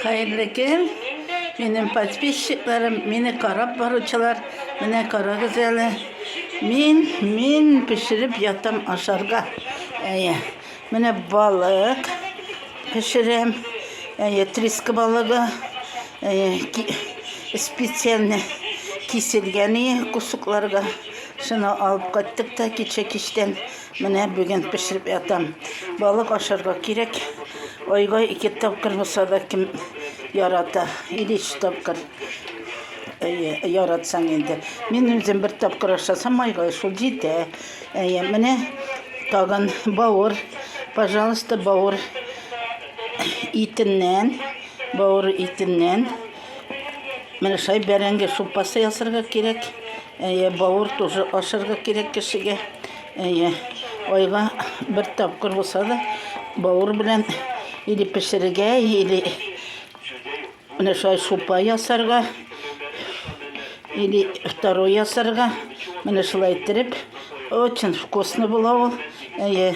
Хәерле көн! Минем подписчикларым, мине карап баручылар, менә карагыз әле. Мин, мин пешереп ятам ашарга. Әйе, менә балык пешерәм. Әйе, триска балыгы. Әйе, ки, специально киселгән кусокларга. Шуны алып кайттык та кичә кичтән. Менә бүген пешереп ятам. Балык ашарга кирәк. Айга ике тапкыр булса да кем ярата. Или өч тапкыр. Әйе, яратсаң инде. Мин үзем бер тапкыр ашасам айга шул җитә. Әйе, менә тагын бауыр. Пожалуйста, бауыр итеннән, бауыр итеннән Менә шай бәрәңге супасы ясарга кирәк. Әйе, бавыр тоже ашарга кирәк кешегә. Әйе, айга бер тапкыр булса да бавыр белән или пешерергә, или менә шай супа ясарга, или второй ясарга. Менә шулай иттереп, очень вкусно була ул. Әйе,